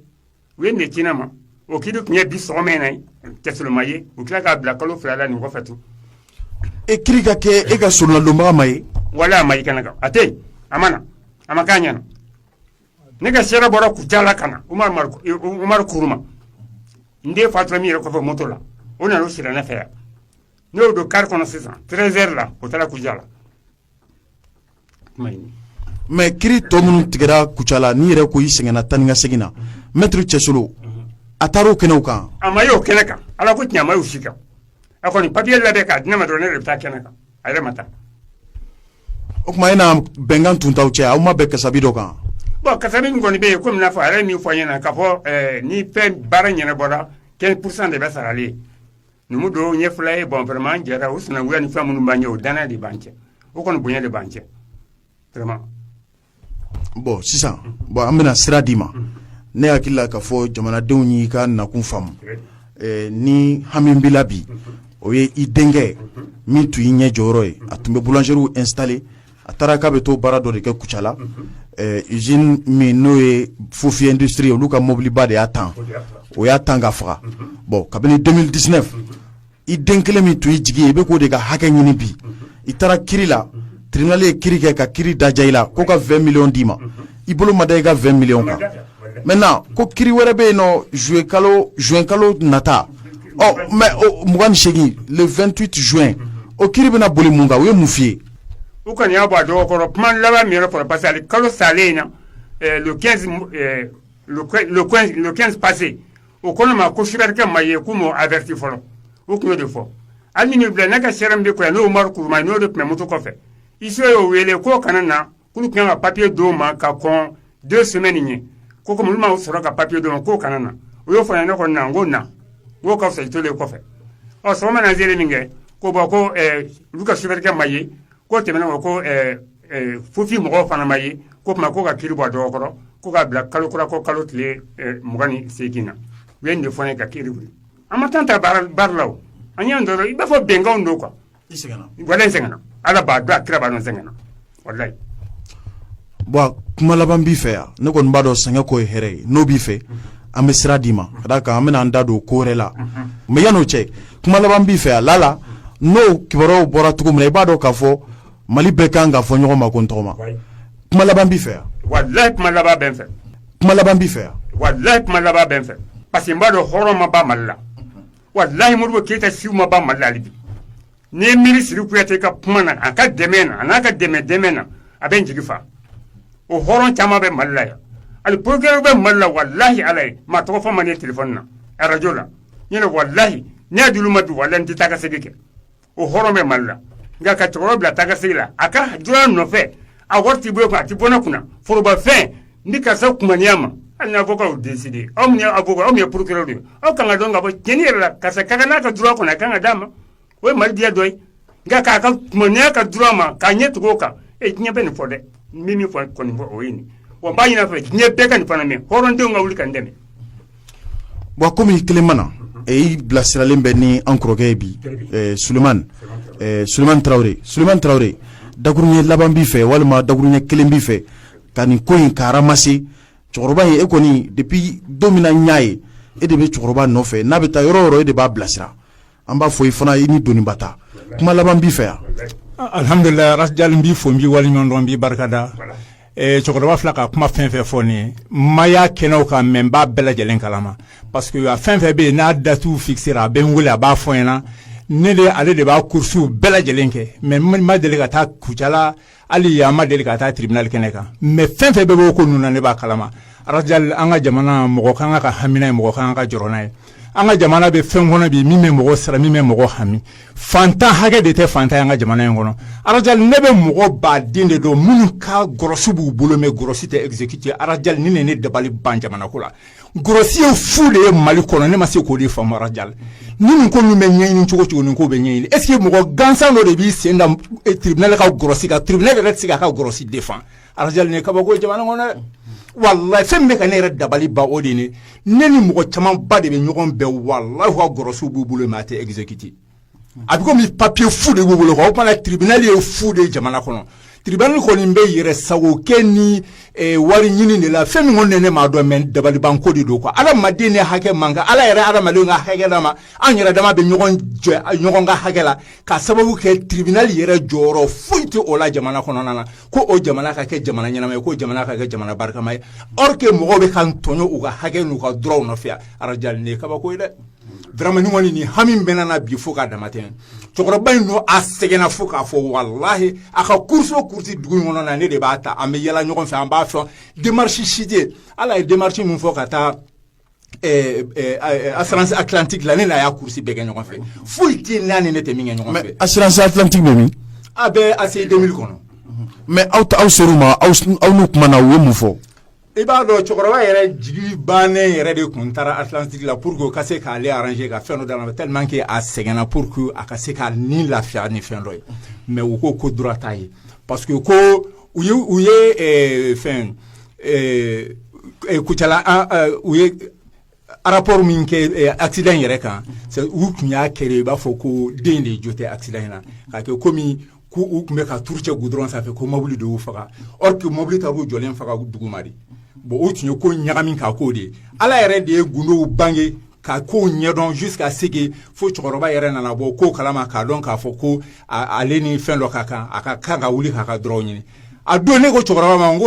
u ye nin ci ne ma o kiri tun ye bi sɔgɔma in na cɛsolo ma ye u tila k'a bila kalo fila la nin kɔfɛ tugun e kiri ka kɛ e ka solonadonbaa ma ye wala a ma ye kɛnɛ kan a tɛ yen a ma na a ma k'a ɲɛna ne ka seere bɔra kucala ka na umaru kuruma n den fatura min yɛrɛ kɔfɛ moto la o nana o sira ne fɛ yan ne y'o don kari kɔnɔ sisan treize heures la o taara kucala mais kiri tɔ minnu tigɛra kucala n'i yɛrɛ ko i sɛgɛnna taa ni ka segin na mɛtiri cɛsolo a taara o kɛnɛw kan a ma y'o kɛnɛ kan ala ko tiɲɛ a ma y'u si kan a kɔni papiye labɛn k'a di ne ma dɔrɔn ne de bɛ taa kɛnɛ kan a yɛrɛ ma taa o tuma e na bɛnkan tun t'aw cɛ aw ma bɛn kasabi dɔ kan bon kasabi min kɔni bɛ yen kɔmi n'a fɔ a yɛrɛ ye min fɔ n ɲɛna k'a fɔ ni fɛn baara ɲɛnabɔra quinze pour cent de bɛ sara ale numu don n ye fula ye bon vraiment an jɛra o sinankunya ni fɛn minnu b'an cɛ o dannaya de b'an cɛ o kɔni bonya de b'an cɛ bɔn sisan bɔn an bɛna sira d'i ma ne hakili la k'a fɔ jamanadenw y'i ka nakun faamu ni hami min b'i la bi o ye i denkɛ min tun y'i ɲɛ jɔyɔrɔ ye a tun bɛ boulangerie installé a taara k'a bɛ t'o baara dɔ de kɛ kucala usine min n'o ye fofi industrie ye olu ka mobiliba de y'a tan o y'a tan k'a faga bɔn kabini 2019 i den kelen min tun y'i jigi ye i bɛ k'o de ka hakɛ ɲini bi i taara kiri la tribunal ye kiri kɛ ka kiri daja i la ko ka 20 miliyɔn d'i ma i bolo ma da i ka 20 miliyɔn kan maintenant ko kiri wɛrɛ bɛ yen nɔ juin kalo juin kalo nata ɔ mɛ mugan ni seegin le 28 juin o kiri bɛna boli mun kan u ye mun f'i ye u kɔni y'a bɔ a dɔgɔ kɔrɔ kuma laban min yɛrɛ fɔra parce que kalo salen in na eh, le 15 eh, le 15 passé o ko ne ma ko sofɛrikɛ ma ye k'u m'o averti fɔlɔ o tun y'o de fɔ hali ni bila ne ka seere min bɛ yan n'o umaru kuruma ye n'o de tun bɛ moto kɔfɛ huissier y'o wele k'o kana na k'olu tun kan ka papiye d'o ma ka kɔn deux semaines ɲɛ ko kɔmi olu ma sɔrɔ ka papiye d'o ma k'o kana na o y'o fɔ ne kɔni na n ko n na k'o ka fisa i tolen kɔfɛ ɔ sɔgɔma na n sera min kɛ ko bɔn ko olu ka sofɛrikɛ ma ye k'o tɛmɛnen kɔ fofi mɔgɔw fana ma ye k'o tuma ko ka kiri bɔ a dɔgɔ kɔrɔ ko k'a bila kalo kura ko kalo tile mugan ni segin na u ye nin de fɔ ne ye ka kiri wuli an ma temps ta barre la o an y'an jɔ dɔrɔn i b'a fɔ bɛnkan don quoi i sɛgɛnna ala b'a dɔn a kira b'a dɔn n sɛgɛnna walayi bɔn kuma laban b'i fɛ yan ne kɔni b'a dɔn sɛgɛn kɔ ye hɛrɛ ye n'o b'i fɛ an bɛ sira d'i ma ka d'a kan an bɛna an da don ko wɛrɛ la mɛ yann'o cɛ kuma laban b'i fɛ yan lala n'o kibaruyaw bɔra cogo min na i b'a dɔn k'a fɔ mali bɛɛ kan ka fɔ ɲɔgɔn ma ko n tɔgɔma kuma laban b'i fɛ yan walayi kuma laban bɛ n fɛ kuma laban b'i fɛ yan walayi kuma laban bɛ n fɛ parce que n b'a dɔn hɔrɔn ma ban mali la walayi modibo keyita si ma ban mali la hali bi n'i y'i miiri siri kuyate ka kuma na a ka dɛmɛ na a n'a ka dɛmɛ dɛmɛ na a bɛ n jigi fa o hɔrɔn caman bɛ mali la yan hali procureur bɛ mali la walayi ala ye maa tɔgɔ fɔ ma ne tele na arajo la ɲ walayi ne y'a d'olu ma bi walayi n tɛ taa ka segin kɛ o hɔrɔn bɛ mali la nka ka cɛkɔrɔba bila taa ka segin la a ka droit nɔfɛ a wari t'i bolo a tɛ bɔ ne kunna forobafɛn ni karisa kunmaniya ma hali n'a fɔ k'aw dɛsɛ aw avocat aw ye procureur de ye aw ka kan k'a dɔn k'a fɔ tiɲɛni yɛrɛ la karisa ka kan n'a ka droit kɔni a kan ka d'a ma o ye mali diya dɔ ye nka k'a kunmaniya a ka droit ma k'a ɲɛ tugu o kan e diɲɛ bɛ nin fɔ dɛ n bɛ min fɔ kɔni fɔ o ye nin wa n b'a ɲin'a fɛ diɲɛ bɛɛ ka nin fana mɛn hɔrɔndenw ka wuli ka n dɛmɛ Bon kɔmi i kelen ma na e i bilasiralen bɛ ni an kɔrɔkɛ ye bi solomani solomani tarawele solomani tarawele dakuruɲɛ laban b'i fɛ walima dakuruɲɛ kelen b'i fɛ ka nin ko in ka ramase cɛkɔrɔba ye e kɔni depuis don min na n y'a ye e de bɛ cɛkɔrɔba nɔfɛ n'a bɛ taa yɔrɔ o yɔrɔ e de b'a bilasira an b'a fɔ i fana i ni doniba ta kuma laban b'i fɛ yan alihamdulila Ras Dial n b'i fo n b'i waleɲumandɔn n b'i barikada cɛkɔrɔba fila ka kuma fɛn fɛn fɔ nin ye n ma y'a kɛnɛw kan mais n b'a bɛɛ lajɛlen kalama parce que a fɛn fɛn bɛ yen n'a datiw fixera a bɛ n weele a b'a fɔ n ɲɛna ne de ale de b'a coursew bɛɛ lajɛlen kɛ mais n ma deli ka taa kucala hali an ma deli ka taa tribunal kɛnɛ kan mais fɛn fɛn bɛ bɔ ko ninnu na ne b'a kalama Ras Dial an ka jamana mɔgɔ kan ka hami n'a ye mɔgɔ kan ka jɔrɔ n'a ye an ka jamana bɛ fɛn kɔnɔ bi min bɛ mɔgɔ siran min bɛ mɔgɔ hami fantan hakɛ de tɛ fantan ye an ka jamana in kɔnɔ Ras Dial ne bɛ mɔgɔ ba den de dɔn minnu ka grosse b'u bolo mais grosse tɛ exécuter Ras Dial ni ne dabali ban jamana ko la Grosse ye fu de ye mali kɔnɔ ne ma se k'o de faamu Ras Dial ni nin ko min bɛ ɲɛɲini cogo cogo nin ko bɛ ɲɛɲini est-ce que mɔgɔ gansan dɔ de b'i sen da tribunal ka grosse kan tribunal yɛrɛ tɛ se k'a ka grosse défendre Ras Dial kabako jamana kɔnɔ wallahi fɛn bɛ ka ne yɛrɛ dabali ban o de ne ni mɔgɔ caman ba de bɛ ɲɔgɔn bɛn wallahi u ka grossew b'u bolo mais a tɛ exécuter a bɛ komi papiye fu de b'u bolo o fana tribunal ye fu de ye jamana kɔnɔ tribunal kɔni bɛ yɛrɛ sagokɛ ni wari ɲini de la fɛn min kɔni ne m'a dɔn mais dabalibanko de don quoi hadamaden ne hakɛ man kan ala yɛrɛ hadamadenw ka hakɛ d'a ma an yɛrɛ dama bɛ ɲɔgɔn ka hakɛ la ka sababu kɛ tribunal yɛrɛ jɔyɔrɔ foyi tɛ o la jamana kɔnɔna na ko o jamana ka kɛ jamana ɲɛnama ye ko jamana ka kɛ jamana barikama ye or que mɔgɔw bɛ ka tɔɲɔ u ka hakɛ n'u ka droit nɔfɛ Ras Dial kabako ye dɛ Vraiment nin kɔni nin hami bɛ ne na bi fo k'a damatɛmɛ cɛkɔrɔba in don a sɛgɛnna fo k'a fɔ walahi a ka course o course dugu in kɔnɔ na ne de b'a ta an bɛ yaala ɲɔgɔn fɛ an b'a fɔ démarche si tɛ ala ye démarche min fɔ ka taa assurance atlantique la ne n'a y'a course bɛɛ kɛ ɲɔgɔn fɛ foyi tɛ n'a ni ne tɛ min kɛ ɲɔgɔn fɛ assurance atlantique bɛ min a bɛ ACI deux mille kɔnɔ mais aw ser'u ma aw n'u kumana u ye mun fɔ I b'a dɔn cɛkɔrɔba yɛrɛ jigi bannen yɛrɛ de kun taara atlantique la pour que u ka se k'ale arranger ka fɛn dɔ d'a ma tellement que a sɛgɛnna pour que a ka se k'a ni lafiya ni fɛn dɔ ye mais u ko ko droit t'a ye parce que ko u u ye fɛn kucala u ye Rapport min kɛ accident yɛrɛ kan u tun y'a kɛ i b'a fɔ ko den de jo tɛ accident in na k'a kɛ ko ko u tun bɛ ka tuuru cɛ goudron sanfɛ ko mobili de y'u faga or que mobili taar'u jɔlen faga duguma bon o tun ye ko ɲagami k'a k'o de ye ala yɛrɛ de ye gundow bange ka kow ɲɛdɔn jusqu'à ce que fo cɛkɔrɔba yɛrɛ nana bɔ kow kalama k'a dɔn k'a fɔ ko ale ni fɛn dɔ ka kan a ka kan ka wuli k'a ka droit ɲini a don ne ko cɛkɔrɔba ma n ko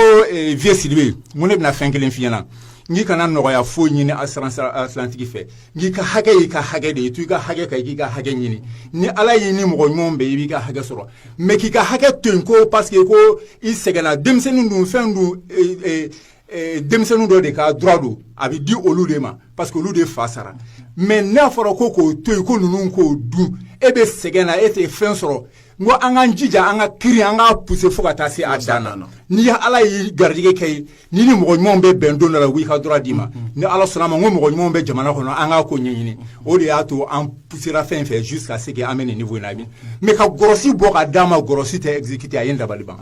vieux Sidibe ne bɛna fɛn kelen f'i ɲɛna n k'i kana nɔgɔya foyi ɲini assurance atlantique fɛ n k'i ka hakɛ y'i ka hakɛ de ye to i ka hakɛ kan i k'i ka hakɛ ɲini ni ala y'i ni mɔgɔ ɲuman bɛn i b'i ka hakɛ sɔrɔ mais k'i ka hakɛ to yen ko parce que ko i sɛgɛnna denmisɛnnin dun fɛn don denmisɛnnin dɔ de ka droit don a bɛ di olu de ma parce que olu de fa sara mais n'a fɔra ko k'o to yen ko ninnu k'o dun e bɛ sɛgɛn na e tɛ fɛn sɔrɔ n ko an k'an jija an ka kiri an k'a pousser fo ka taa se a dan na n'i ye ala y'i garijɛgɛ kɛ ye ni ni mɔgɔ ɲumanw bɛ bɛn don dɔ la u b'i ka droit d'i ma ni ala sɔnna a ma ko mɔgɔ ɲumanw bɛ jamana kɔnɔ an k'a ko ɲɛɲini o de y'a to an poussera fɛn fɛn jusqu'à ce que an bɛ nin niveau in na bi mais ka grosse bɔ ka d'a ma grosse tɛ exécuter a ye n dabali ban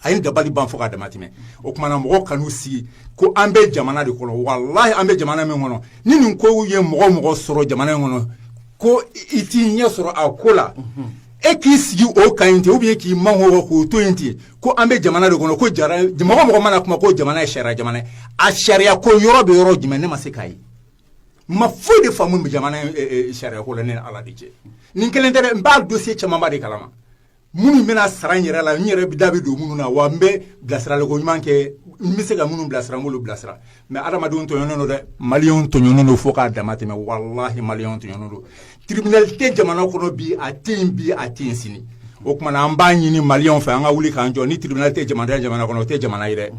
a ye n dabali ban fo k'a dama tɛmɛ o tuma na mɔgɔw kan'u sigi ko an bɛ jamana de kɔnɔ walahi an bɛ jamana min kɔnɔ ni nin ko ye mɔgɔ mɔgɔ sɔrɔ jamana in kɔnɔ ko i t'i ɲɛ sɔrɔ a ko la e k'i sigi o kan yen ten ou bien k'i makun k'o to yen ten ko an bɛ jamana de kɔnɔ ko mɔgɔ mɔgɔ mana kuma ko jamana ye sariya jamana ye a sariya ko yɔrɔ bɛ yɔrɔ jumɛn ne ma se k'a ye ma foyi de faamu jamana sariya ko la ne ni ala de cɛ nin kelen tɛ n b'a dossier camanba de kalama minnu bɛna sara n yɛrɛ la n yɛrɛ da bɛ don minnu na wa n bɛ bilasirali ko ɲuman kɛ n bɛ se ka minnu bilasira n b'olu bilasira mais adamadenw tɔɲɔnen don dɛ maliyɛnw tɔɲɔnen don fo k'a dama tɛmɛ walahi maliyɛnw tɔɲɔnen don tribunal tɛ jamana kɔnɔ bi a tɛ yen bi a tɛ yen sini o tuma na an b'a ɲini maliyɛnw fɛ an ka wuli k'an jɔ ni tribunal tɛ jamana jamana kɔnɔ o tɛ jamana ye dɛ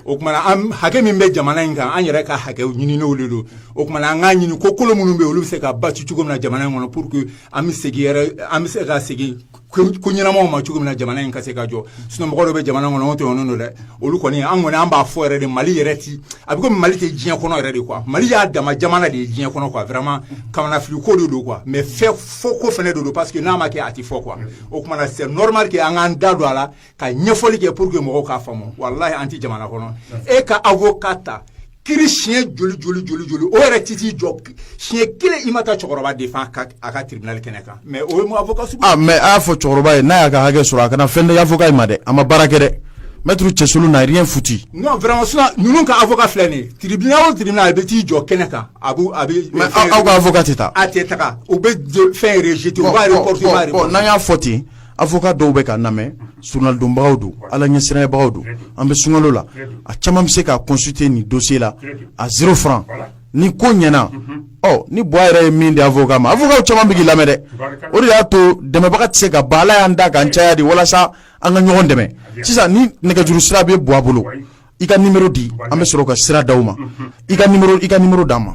o tuma na an hakɛ min bɛ jamana in kan an yɛrɛ ka hakɛw ɲininenw de don o tuma na an k'a ɲini ko kolo minnu bɛ yen olu bɛ se ka basi cogo min na jamana in kɔnɔ pour que an bɛ segin yɛrɛ an bɛ se ka segin ko ɲɛnamaw ma cogo min na jamana in ka se ka jɔ sinon mɔgɔ dɔ bɛ jamana kɔnɔ o tɛ ɲɔgɔn dɔn dɛ olu kɔni an kɔni an b'a fɔ yɛrɛ de mali yɛrɛ ti a bɛ komi mali tɛ diɲɛ kɔnɔ yɛrɛ de quoi mali y'a dama jamana de ye diɲɛ kɔnɔ quoi vraiment kamanafili ko de don quoi mais fɔ ko fɛnɛ de don parce que n'a ma kɛ a tɛ fɔ quoi o tuma na c'est normal que an k'an da don a la ka ɲɛfɔli kɛ pour que mɔgɔw k'a faamu walahi an tɛ jamana kɔnɔ e ka avocat ta kiri siɲɛ joli joli joli joli o yɛrɛ ti t'i jɔ siɲɛ kelen i ma taa cɛkɔrɔba défend a ka tribunal kɛnɛ kan mais o ye mun avocat sugu ah mais a y'a fɔ cɛkɔrɔba ye n'a y'a ka hakɛ sɔrɔ a kana fɛn di avocat in ma dɛ a ma baara kɛ dɛ maître cɛsolo n'a rien foutu non vraiment sinon ninnu ka avocat filɛ nin ye tribunal o tribunal a bɛ t'i jɔ kɛnɛ kan a b'u a bɛ mais aw ka avocat tɛ taa a tɛ taga u bɛ fɛn rejeter u b'a reporter u b'a reporter n'an y'a fɔ ten avocat dɔw bɛ ka lamɛn ala dɔnbagaw don ala ɲɛsiranyabagaw don an bɛ sunkalo la a caman bɛ se ka consulter nin dossier la à zéro franc ni ko ɲɛna ni buwa yɛrɛ ye min di avocat ma avocat caman b'i lamɛn dɛ o de y'a to dɛmɛbaga tɛ se ka ban ala y'an da k'an caya de walasa an ka ɲɔgɔn dɛmɛ sisan ni nɛgɛjuru sira bɛ buwa bolo i ka numéro di an bɛ sɔrɔ ka sira d'a ma i ka numéro d'an ma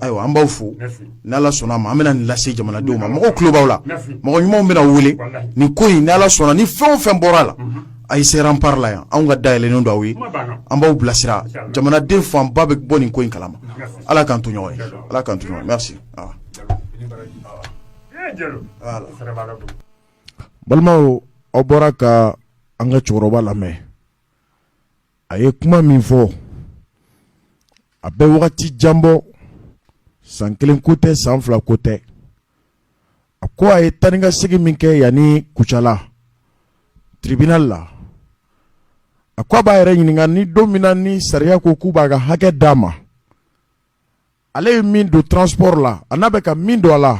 Ayiwa an b'aw fo n'ala sɔnna ma an bɛna nin lase jamanadenw ma mɔgɔw tulo b'aw la mɔgɔ ɲumanw bɛna wele ni ko in ni ala sɔnna ni fɛn o fɛn bɔra a la a ye se Rempart la yan anw ka da yɛlɛlen don aw ye an b'aw bilasira jamanaden fanba bɛ bɔ nin ko in kalama ala k'an to ɲɔgɔn ye ala k'an to ɲɔgɔn ye merci balimaw aw bɔra ka an ka cɛkɔrɔba lamɛn a ye kuma min fɔ a bɛ wagati jan bɔ san kelen ko tɛ san fila ko tɛ a ko a ye taa ni ka segin min kɛ yan ni Kucala tribunal la a ko a b'a yɛrɛ ɲininka ni don min na ni sariya ko k'u b'a ka hakɛ d'a ma ale ye min don transport la a n'a bɛ ka min don a la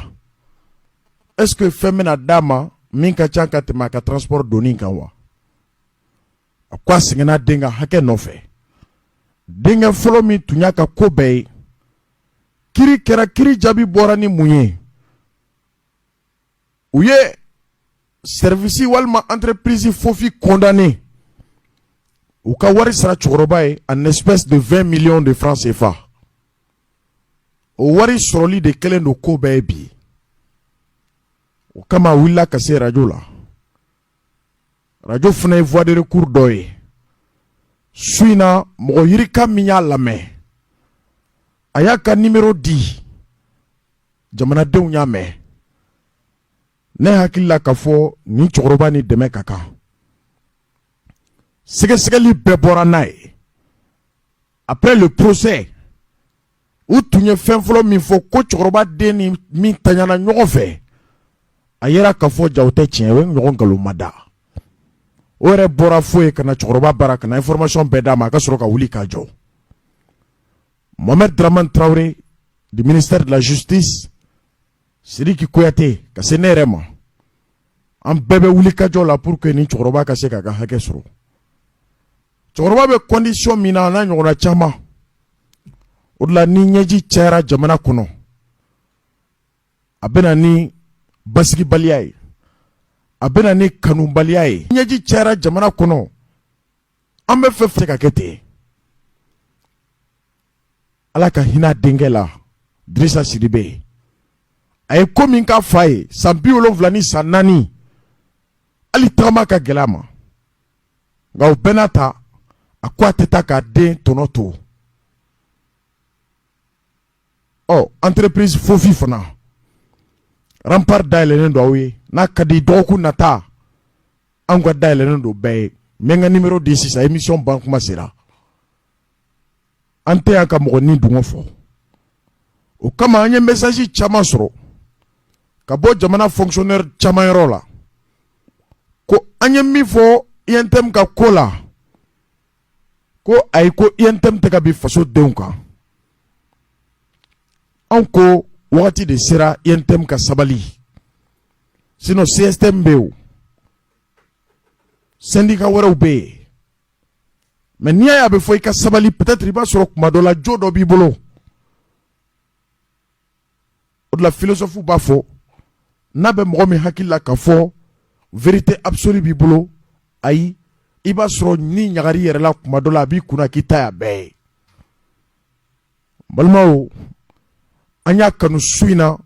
est ce que fɛn bɛna d'a ma min ka ca ka tɛmɛ a ka transport donni kan wa a ko a sɛgɛnna den ka hakɛ nɔfɛ denkɛ fɔlɔ min tun y'a ka ko bɛɛ ye kiri kɛra kiri jaabi bɔra ni mun ye u ye service walima entreprise fofi condamné u ka wari sara cɛkɔrɔba ye an espèce de 20 millions de francs CFA o wari sɔrɔli de kɛlen don ko bɛɛ ye bi o kama a wulila ka se arajo la arajo fana ye voie de recours dɔ ye su in na mɔgɔ yirika min y'a lamɛn a y'a ka nimero di jamanadenw y'a mɛn ne hakili la k'a fɔ nin cɛkɔrɔba ni dɛmɛ ka kan sɛgɛsɛgɛli bɛɛ bɔra n'a ye après le procès u tun ye fɛn fɔlɔ min fɔ ko cɛkɔrɔba den ni min taɲana ɲɔgɔn fɛ a yera k'a fɔ jaa o tɛ tiɲɛ o ye ɲɔgɔn nkalon ma da o yɛrɛ bɔra fo yen ka na cɛkɔrɔba bara ka na information bɛɛ d'a ma a ka sɔrɔ ka wuli ka jɔ Mohamed Dramane Traoré du ministère de la justice Sidiki Kouyaté ka se ne yɛrɛ ma an bɛɛ bɛ wuli ka jɔ la pour que nin cɛkɔrɔba ka se k'a ka hakɛ sɔrɔ cɛkɔrɔba bɛ condition min na n'a ɲɔgɔnna caman o de la ni ɲɛji cayara jamana kɔnɔ a bɛ na ni basigibaliya ye a bɛ na ni kanubaliya ye ɲɛji cayara jamana kɔnɔ an bɛ fɛn fɛ ka kɛ ten ala ka hinɛ denkɛ la Dirisa Sidibe a ye ko min ka fa ye san bi wolonwula ni san naani hali tagama ka gɛlɛn a ma nka o bɛɛ n'a ta a ko a tɛ taa k'a den tɔnɔ to ɔ entreprise fofi fana Rempart da yɛlɛlen don aw ye n'a ka di dɔgɔkun nata an ka da yɛlɛlen don bɛɛ ye n bɛ n ka nimero di sisan émission ban kuma sera an tɛ yan ka mɔgɔ ni dungɔ fɔ o kama an ye message caman sɔrɔ ka bɔ jamana fonctionnaire caman yɔrɔ la ko an ye min fɔ untm ka ko la ko ayi ko untm tɛ ka bin faso denw kan anw ko wagati de sera untm ka sabali sinon cstm bɛ yen syndicat wɛrɛw bɛ yen mais n'i y'a ye a bɛ fɔ i ka sabali peut-être i b'a sɔrɔ kuma dɔ la jo dɔ b'i bolo o de la philosophe b'a fɔ n'a bɛ mɔgɔ min hakili la k'a fɔ vérité absolue b'i bolo ayi i b'a sɔrɔ ni ɲagari yɛrɛ la kuma dɔ la a b'i kunna k'i ta y'a bɛɛ ye balimaw an y'a kanu su in na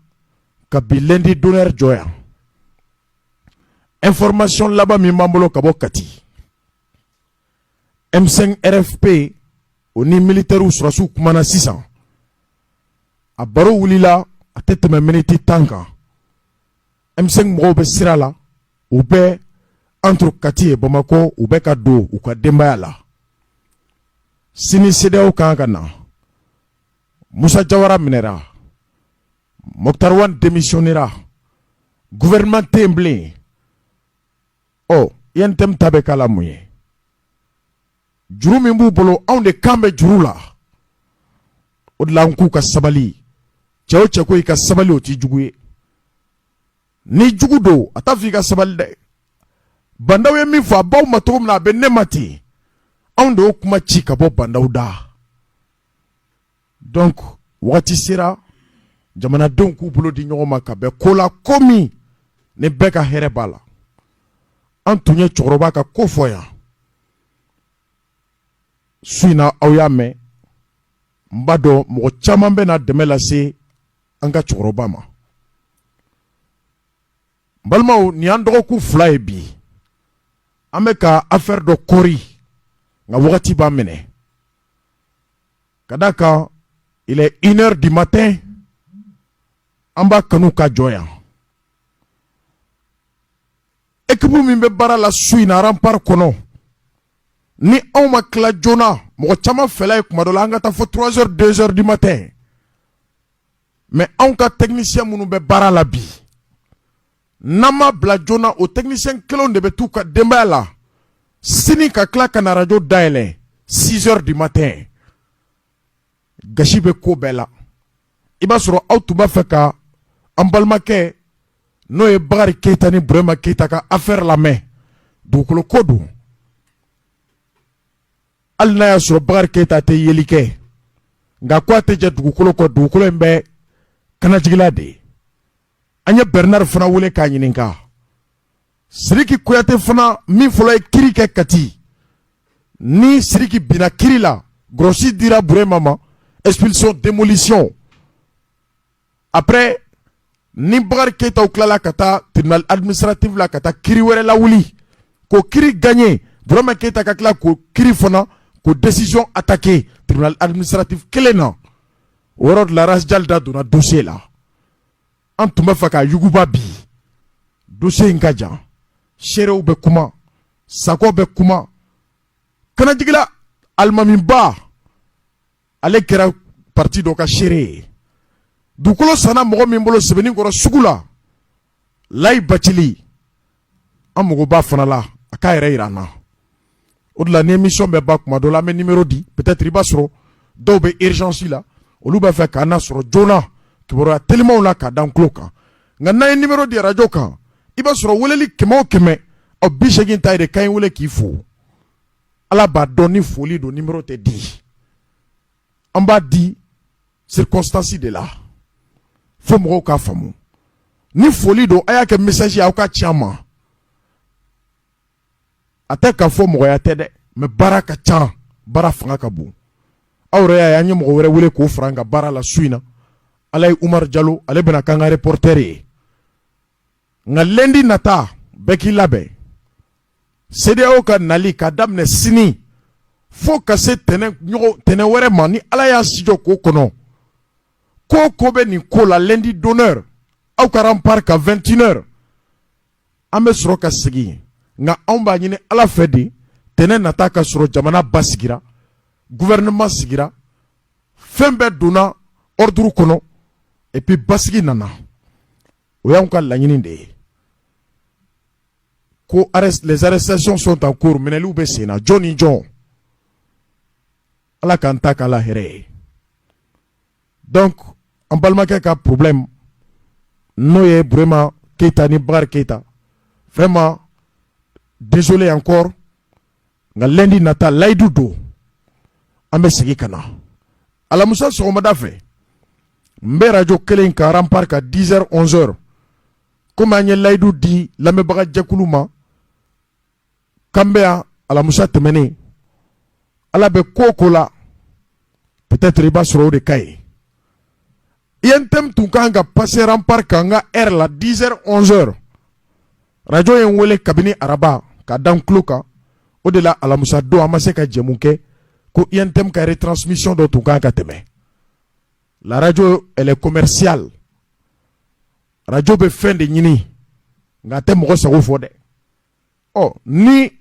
ka bi lundi d'honneur jɔ yan information laban min b'an bolo ka bɔ kati m5 rfp o ni militɛriw sɔrɔsiw kumana sisan a baro wulila a tɛ tɛmɛ miniti tan kan m5 mɔgɔw bɛ sira la u bɛ entre kati et bamakɔ u bɛ ka don u ka denbaya la sini cedeao kan ka na musa jawara minɛra moctar ouane démissionnera gouvernement tɛ yen bilen ɔ untm ta bɛ k'a la mun ye juru min b'u bolo anw de kan bɛ juru la o de la an k'u ka sabali cɛ o cɛ ko i ka sabali o t'i jugu ye ni jugu don a t'a fɔ i ka sabali dɛ bandaw ye min fɔ a baw ma cogo min na a bɛ ne ma ten anw de y'o kuma ci ka bɔ bandaw da donc wagati sera jamanadenw k'u bolo di ɲɔgɔn ma ka bɛn ko la ko min ni bɛɛ ka hɛrɛ b'a la an tun ye cɛkɔrɔba ka ko fɔ yan su in na aw y'a mɛn n b'a dɔn mɔgɔ caman bɛ na dɛmɛ lase an ka cɛkɔrɔba ma n balimaw nin y'an dɔgɔkun fila ye bi an bɛ ka affaire dɔ kɔri nka wagati b'an minɛ ka da kan i iinɛ di ma tɛ an b'a kanu ka jɔn yan ekibu min bɛ baara la su in aran panri kɔnɔ ni anw ma tila joona mɔgɔ caman fɛ ye kuma dɔ la an ka taa fɔ turanz denzri di ma tɛ mɛ anw ka tɛmɛinisiya minnu bɛ baara la bi n'an ma bila joona o technicien kelenw de bɛ t'u ka denbaya la sini ka tila ka na radio dayɛlɛ 6 heures du matin gasi bɛ ko bɛɛ la i b'a sɔrɔ aw tun b'a fɛ ka an balimakɛ n'o ye Bakari Keyita ni Burema Keyita ka affaire lamɛn dugukolo ko don hali n'a y'a sɔrɔ Bakari Keyita tɛ yeli kɛ nka ko a tɛ jɛ dugukolo kɔ dugukolo in bɛ Kanajigila de ye an ye Bernard fana wele k'a ɲininka Siriki Kuyate fana min fɔlɔ ye kiri kɛ Kati ni Siriki binna kiri la grosse dira Burema ma expulsion démolition après ni Bakari Keyita tilala ka taa tribunal administratif la ka taa kiri wɛrɛ lawuli ko kiri gagné Burema Keyita ka tila ko kiri fana ko décision attaquée tribunal administratif kelen na o yɔrɔ larasija da donna donsen la an tun b'a fɛ k'a yuguba bi dossier in ka jan seerew bɛ kuma Sakɔ bɛ kuma Kanajigila alimamiba ale kɛra parti dɔ ka seere ye dugukolo sanna mɔgɔ min bolo Sebeninkɔrɔ sugu la Layi Bacili an mago b'a fana la a k'a yɛrɛ yira an na o de la ni émission bɛ ban kuma dɔ la an bɛ numéro di peut-être i b'a sɔrɔ dɔw bɛ urgence la olu b'a fɛ k'an nasɔrɔ joona kibaruya telimanw la k'a d'an tulo kan nka n'an ye numéro di arajo kan i b'a sɔrɔ weleli kɛmɛ o kɛmɛ o bi seegin ta ye de k'an y'i wele k'i fo ala b'a dɔn ni foli don numéro tɛ di an b'a di circonstance de la fo mɔgɔw k'a faamu ni foli don a y'a kɛ message ye aw k'a ci an ma a tɛ k'a fɔ mɔgɔya tɛ dɛ mais baara ka ca baara fanga ka bon aw yɛrɛ y'a ye an ye mɔgɔ wɛrɛ wele k'o fara an ka baara la su in na ale ye Umaru Jalo ale bɛna k'an ka reporter ye nka lundi nata bɛɛ k'i labɛn CEDEAO ka nali k'a daminɛ sini fo ka se tɛnɛn wɛrɛ ma ni ala y'a sijɔ k'o kɔnɔ ko ko bɛ nin ko la lundi d'honneur aw ka Rempart ka 21 heures an bɛ sɔrɔ ka segin nka anw b'a ɲini ala fɛ de tɛnɛn nata ka sɔrɔ jamana basigira gouvernement sigira fɛn bɛɛ donna ordre kɔnɔ et puis basigi nana o y'anw ka laɲini de ye ko les arrestations sont en cours minɛliw bɛ sen na jɔn ni jɔn ala k'an ta k'a la hɛrɛ ye donc an balimakɛ ka problème n'o ye Burema Keyita ni Bakari Keyita vraiment désolé encore nka lundi nata layidu don an bɛ segin ka na alamusa sɔgɔmada fɛ n bɛ arajo kelen kan rampart ka 10 heures 11 heures komi an ye layidu di lamɛnbagajɛkulu ma k'an bɛ yan alamusa tɛmɛnen ala bɛ ko o ko la peut-être i b'a sɔrɔ o de ka ɲi UNTM tun kan ka passer rampart kan an ka heure la 10 heures 11 heures arajo ye n weele kabini araba k'a da n tulo kan o de la alamusa don an ma se ka jɛmu kɛ ko UNTM ka retransmission dɔ tun kan ka tɛmɛ la radio elle est commerciale arajo bɛ fɛn de ɲini nka a tɛ mɔgɔ sago fɔ dɛ ɔ ni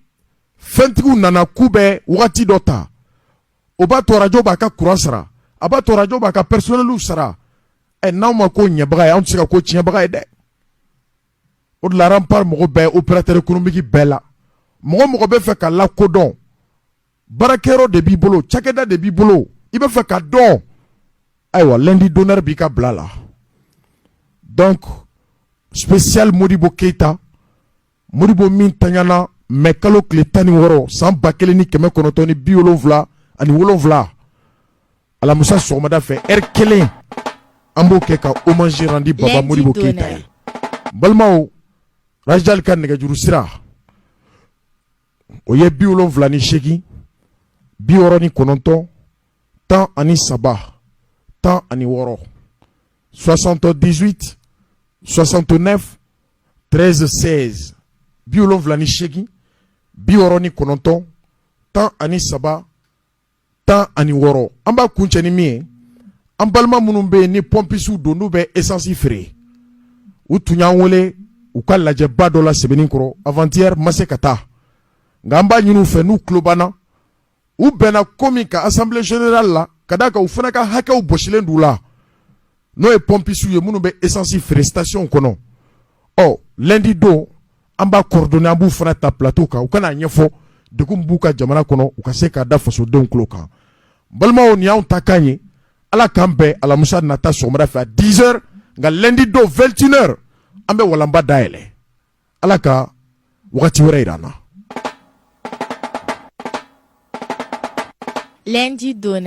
fɛntigiw nana k'u bɛ wagati dɔ ta o b'a to arajo b'a ka kuran sara a b'a to arajo b'a ka pɛrisɔnɛliw sara ɛ n'aw ma ko ɲɛbaga ye anw tɛ se ka ko tiɲɛbaga ye dɛ o de la rampart mɔgɔ bɛɛ operatɛri ekonomiki bɛɛ la mɔgɔ o mɔgɔ bɛ fɛ ka lakodɔn baarakɛyɔrɔ de b'i bolo cakɛda de b'i bolo i b'a fɛ ka dɔn ayiwa lundi d'honneur b'i ka bila la donc spécial Modibo Keita Modibo min taɲana mɛ kalo tile tan ni wɔɔrɔ san ba kelen ni kɛmɛ kɔnɔntɔn ni bi wolonwula ani wolonwula alamusa sɔgɔmada fɛ ɛri kelen an b'o kɛ ka hommage rendi baba Modibo Keita ye balimaw rajal ka nɛgɛjuru sira o ye bi wolonwula ni seegin bi wɔɔrɔ ni kɔnɔntɔn tan ani saba tan ani wɔɔrɔ soixante dix-huit soixante neuf treize seize bi wolonwula ni seegin bi wɔɔrɔ ni kɔnɔntɔn tan ani saba tan ani wɔɔrɔ an b'a kuncɛ ni min ye an balima minnu bɛ yen ni pɔnpisiw don n'u bɛ esansi feere u tun y'an wele u ka lajɛba dɔ la Sebeninkɔrɔ avant-hier ma se ka taa nka an b'a ɲini u fɛ n'u tulo b'an na u bɛnna ko min kan assemblée générale la ka d'a kan u fana ka hakɛw bɔsilen d'u la n'o ye pɔnpisiw ye minnu bɛ esansi feere station kɔnɔ ɔ lɛndi don an b'a coordonner an b'u fana ta plateau kan u ka n'a ɲɛfɔ degun b'u kan jamana kɔnɔ u ka se k'a da fasodenw tulo kan balimaw nin y'anw ta kan ye ala k'an bɛn alamusa nata sɔgɔmada fɛ à 10 heures nka lɛndi don 21 heures an bɛ walanba dayɛlɛ ala ka waati wɛrɛ jira na lɛnji dɔn